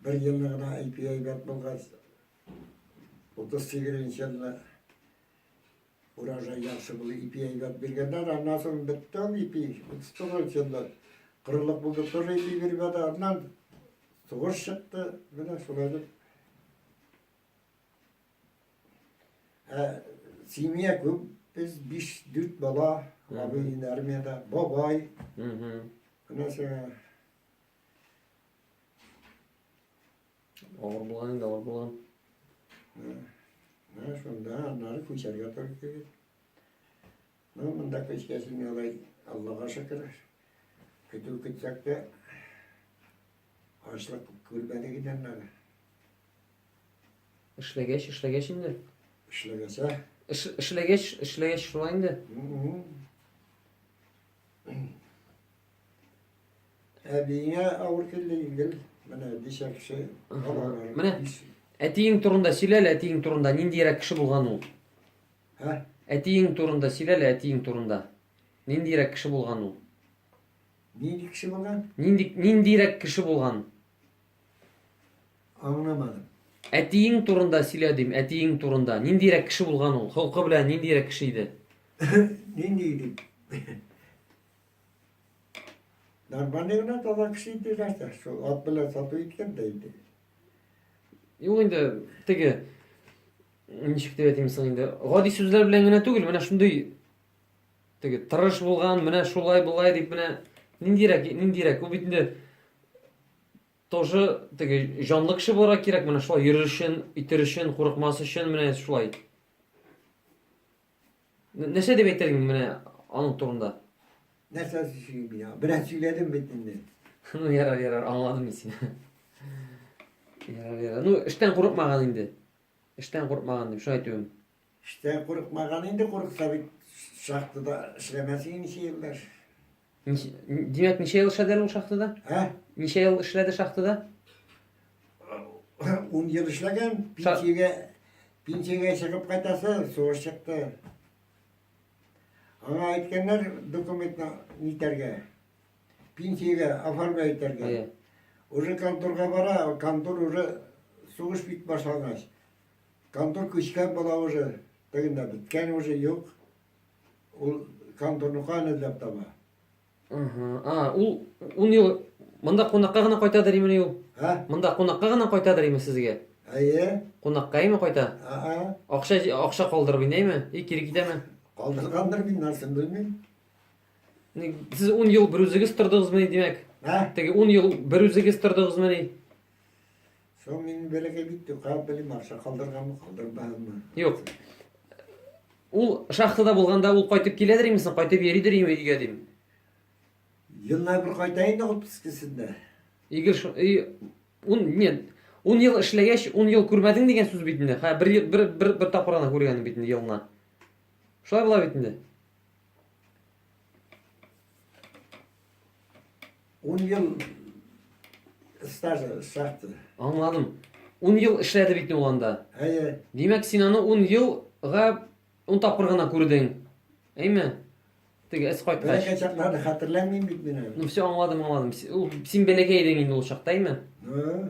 Бер елны гына ипи әйбәт булгач, утыз сигезенче елны урожай яхшы булды, ипи әйбәт биргәннәр, аннан соң бетте ул ипи, утыз тугызынчы елда корылык булды, тоже ипи бирмәде, аннан сугыш чыкты, менә шулай дип. Ә семья күп, без биш, дүрт бала, абыйын армияда, бабай, менә сиңа Авыр булган инде, авыр булган. Менә шунда аннары күчәргә туры килде. Ну, монда күчкәсен алай, Аллага шөкер. Көтү көтсәк тә, ашлык күрмәдек иде аннары. Эшләгәч, эшләгәч инде. Эшләгәсә. Эшләгәч, эшләгәч шулай инде. Әбиңә авыр килде егел. Менә бишә кеше. Менә әтиең турында сөйләл, әтиең турында ниндиерәк кеше булган ул? Ә? Әтиең турында сөйләл, әтиең турында. Ниндиерәк кеше булган ул? Нинди кеше булган? Нинди ниндиерәк кеше булган? Аңламадым. Әтиең турында сөйлә дим, әтиең турында. Ниндиерәк кеше булган ул? Холкы белән ниндиерәк кеше иде? Нинди иде? Нормальный гына таза кеше иде нәрсә, шул ат белән сату иткән дә инде. Юк инде теге ничек дип әйтим соң инде, гади сүзләр белән генә түгел, менә шундый теге тырыш булган, менә шулай болай дип менә ниндирәк, ниндирәк, ул бит инде тоже теге җанлы кеше буларак кирәк, менә шулай йөрер өчен, итер өчен, курыкмас өчен, менә шулай. Н- Нәрсә дип әйтер идең менә аның турында? Нәрсә сөйлим мин аңа? Бераз сөйләдем бит инде. Ну, ярар, ярар, аңладым мин сине. Ярар, ярар. Ну, эштән курыкмаган инде. Эштән курыкмаган дип шулай әйтүем. Эштән курыкмаган инде, курыкса бит шахтада эшләмәс иде ничә еллар. Димәк, ничә ел эшләделәр ул шахтада? Ә? Ничә ел эшләде шахтада? Ун ел эшләгән, пенсиягә, пенсиягә чыгып кайтасы, сугыш чыкты. Аңа әйткәннәр документны нитәргә, пенсиягә оформлять итәргә. Уже конторга бара, контор уже сугыш бит башлангач. Контор көчләп була уже, тегендә биткән уже юк. Ул конторны каян эзләп таба? Ага. А, ул ун ел монда кунакка гына кайтадыр имени ул? Ә? Монда кунакка гына кайтадыр име сезгә? Әйе. Кунакка име кайта? Ага. Акча акча калдырып инәме? И кире китәме? Калдыргандыр мин нәрсен белмим. Сез ун ел бер үзегез тордыгызмы, димәк? Ә? Теге ун ел бер үзегез тордыгызмы? Соң мин бәләкәй бит тукап белем акча калдырганмы, калдырмагынмы? Юк. Ул шахтада булганда ул кайтып киләдер имесен, кайтып йөридер име өйгә дим. Елына бер кайта инде отпускасында. Игел шу... Ун, нет, ун ел эшләгәч, ун ел күрмәдең дигән сүз бит инде. Хә, бер, бер, бер, бер тапкыр гына күргәнем бит инде елына. Шулай була бит инде. 10 ел стажы шахты. Аңладым. 10 ел эшләде бит ул анда. Әйе. Димәк, син аны 10 елга 10 тапкыр гына күрдең. Әйме? Теге эс кайткач. Бәләкәй чакларны хәтерләмим бит мин әле. Ну все, аңладым, аңладым. Син бәләкәй идең инде ул чакта, әйме? Ну.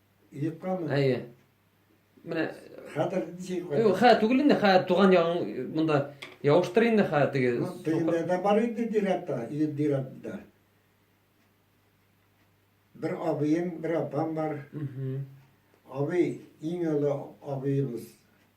Юккамы? Әйе. Менә хәтер ничек куя? Юк, хә түгел инде, хә туган ягың монда явыштыр инде хә теге. Ну, тегендә дә бар инде дирәктә, ие дирәктә. Бер абыем, бер апам бар. Абый, иң олы абыебыз.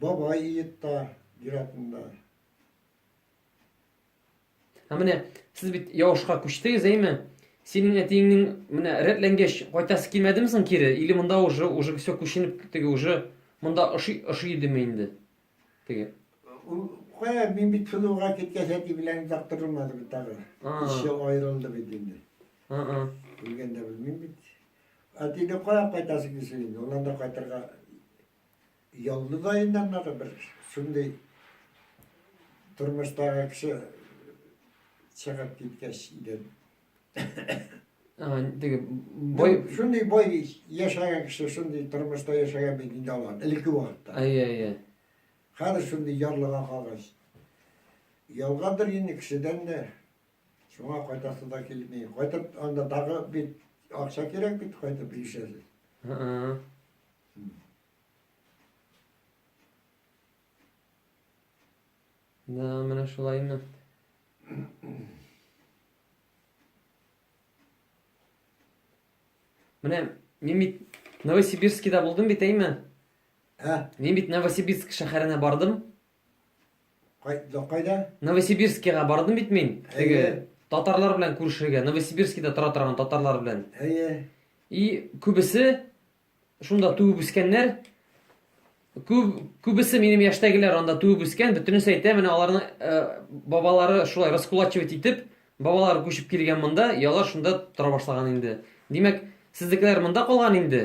Бабай иетта зиратында. Ә менә сез бит Явышка күчтегез, әйме? Синең әтиеңнең менә рәтләнгәч кайтасы килмәдеме соң кире? Или монда уже уже все күченеп теге уже монда ошый ошый идеме инде? Теге. Кая мин бит сылуга киткәч әти белән яктырылмады бит тагы. Ише аерылды бит инде. Ага. Үлгәндә белмим бит. Әтине кая кайтасы килсен инде? Уннан да кайтырга Ялны да инде аннары бер шундый тормыштагы кеше чыгып киткәч иде. Теге бай шундый бай яшәгән кеше шундый тормышта яшәгән бит инде алар элекке вакытта. Әйе, әйе. Хәзер шундый ярлыга калгач. Ялгадыр инде кешедән дә Шуңа кайтасы да килми. Кайтып анда дагы бит акча кирәк бит кайтып ирешәсез. Һы-ы. Да, менә шулаймы? Менә мин бит Новосибирскида булдым бит, әйме? Ә? Мин бит Новосибирск шәһәренә бардым. Кайда кайда? Новосибирскига бардым бит мин. Теге татарлар белән күрешергә, Новосибирскида тора торган татарлар белән. Әйе. И күбесе шунда туып үскәннәр. Күп күбесе минем яшьтәгеләр анда туып үскән, бөтенесе әйтә, менә аларның э, бабалары шулай раскулачивать итеп, бабалары күчеп килгән монда, ялар шунда тора башлаган инде. Димәк, сезнекеләр монда калган инде.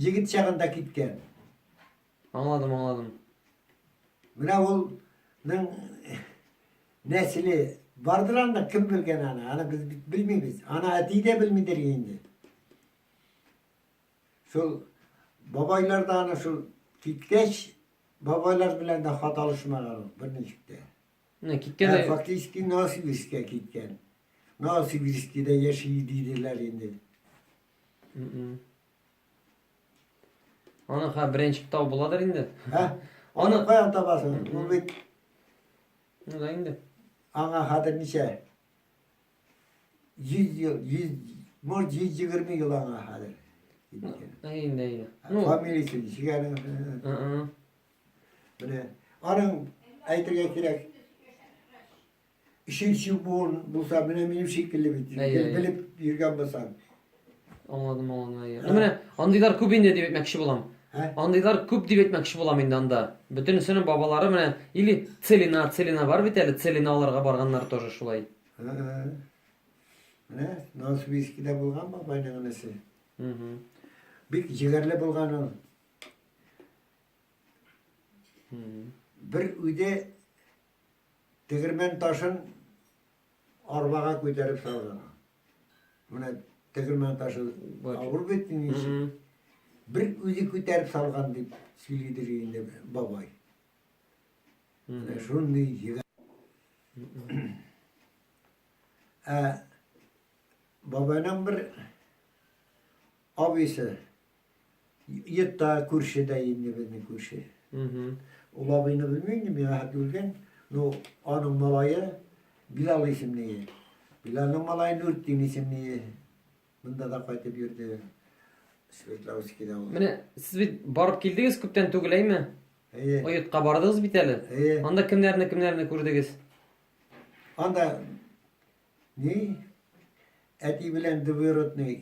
Егет чагында киткән. Аңладым, аңладым. Менә улның нәселе бардыр анда, кем белгән аны? Аны без бит белмибез. Аны әти дә белмидер инде. Шул бабайлар да аны шул киткәч, бабайлар белән дә хат алышмаган ул берничек тә. Менә киткән. Фактически Новосибирскә киткән. Новосибирскида яши диделәр инде. Аны ха беренче китап буладыр инде. Ха? Аны каян табасың? Ул бит Ну да инде. Аңа хәзер ничә? 100 ел, 100, может 120 ел аңа хәзер. Әйдә, әйдә. Ну, фамилиясе ничегәнең? Менә аның әйтергә кирәк. Ишек чүп буын булса, менә минем шикелле бит. Әй, әй, әй. Белеп йөргән булсаң. Аңладым, аңладым. әйе. Ну, Менә андыйлар күп инде дип әйтмәкче булам. Ә? Андыйлар күп дип әйтмәкче булам инде анда. Бөтенесенең бабалары менә или Целина, Целина бар бит әле, Целина аларга барганнар тоже шулай. Ә, ә. Менә Новосибирскида булган бабайның энесе. Мгм. Бик җегәрле булган ул. Мгм. Бер үде Тегермән ташын арбага күтәреп салган. Менә тегермән ташы авыр бит инде. Бер үзе күтәреп салган дип сөйлидер инде бабай. Менә шундый егет. Ә бабайның бер абыйсы Йотта күрше дә инде безнең күрше. Ул абыйны белмим инде, миңа хәтле үлгән. Ну, аның малае Билал исемле. Билалның малае Нуртдин исемле. Монда да кайтып йөрде. Свердловскида ул. Менә сез бит барып килдегез күптән түгел, әйме? Әйе. Ойтка бардыгыз бит әле. Әйе. Анда кемнәрне, кемнәрне күрдегез? Анда ни? Әти белән двоюродный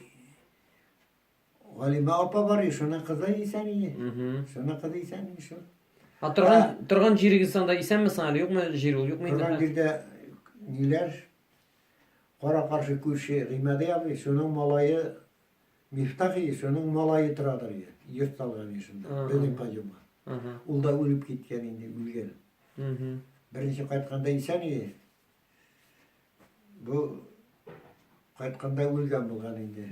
Галима апа бар, шуның кызы исән иде. Шуның кызы исән иде шул. А торган торган җирегез анда исәнме соң әле юкмы җир ул юкмы инде? Торган җирдә ниләр? Кара каршы күрше Гыймәди абый, шуның малае Мифтах иде, шуның малае торадыр иде. Йорт салган иде шунда, безнең каюмга. Ул да үлеп киткән инде, үлгән. Беренче кайтканда исән иде. Бу кайтканда үлгән булган инде.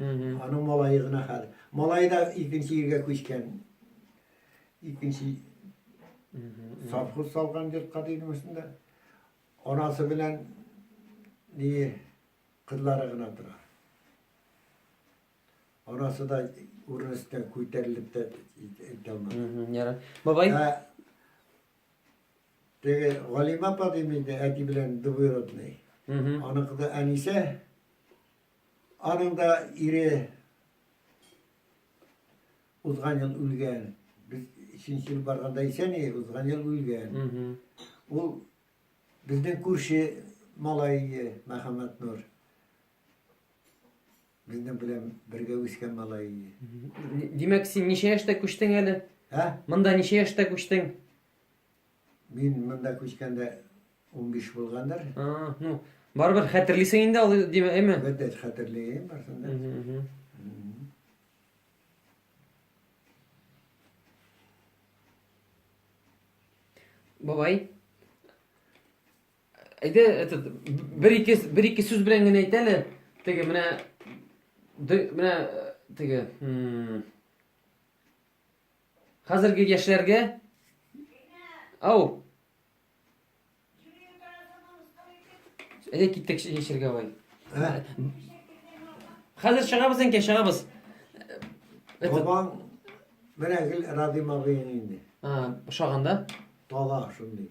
Аның малае гына хәл. Малае да икенче егә күчкән. Икенче совхоз салган йортка дигән өстендә. Анасы белән ни кызлары гына тора. Анасы да урын өстенә күтәрелеп тә итә алмады. Бабай? Ә, Теге Галимә апа дим инде, әти белән двоюродный. Аныкы да әнисе. Аның да ире узган ел үлгән. Без икенче ел барганда исән иде, узган ел үлгән. Ул безнең күрше малае Мәхәммәт Нур. Безнең белән бергә үскән малае. Димәк, син ничә яшьтә күчтең әле? Ә? Монда ничә яшьтә күчтең? Мин монда күчкәндә 15 булгандыр. А, ну, барыбер хәтерлисең инде ул димә, әйме? Бәдә хәтерлим барсын да. Бабай. Әйдә, этот бер ике бер ике сүз белән генә әйт әле. Теге менә менә теге, Хәзерге яшьләргә Ау. Әйдә киттек яшәргә бай. Хәзер чыгабыз инде, чыгабыз. Бабаң менә гел Радим абыең инде. А, ошаганда? Тала шундый.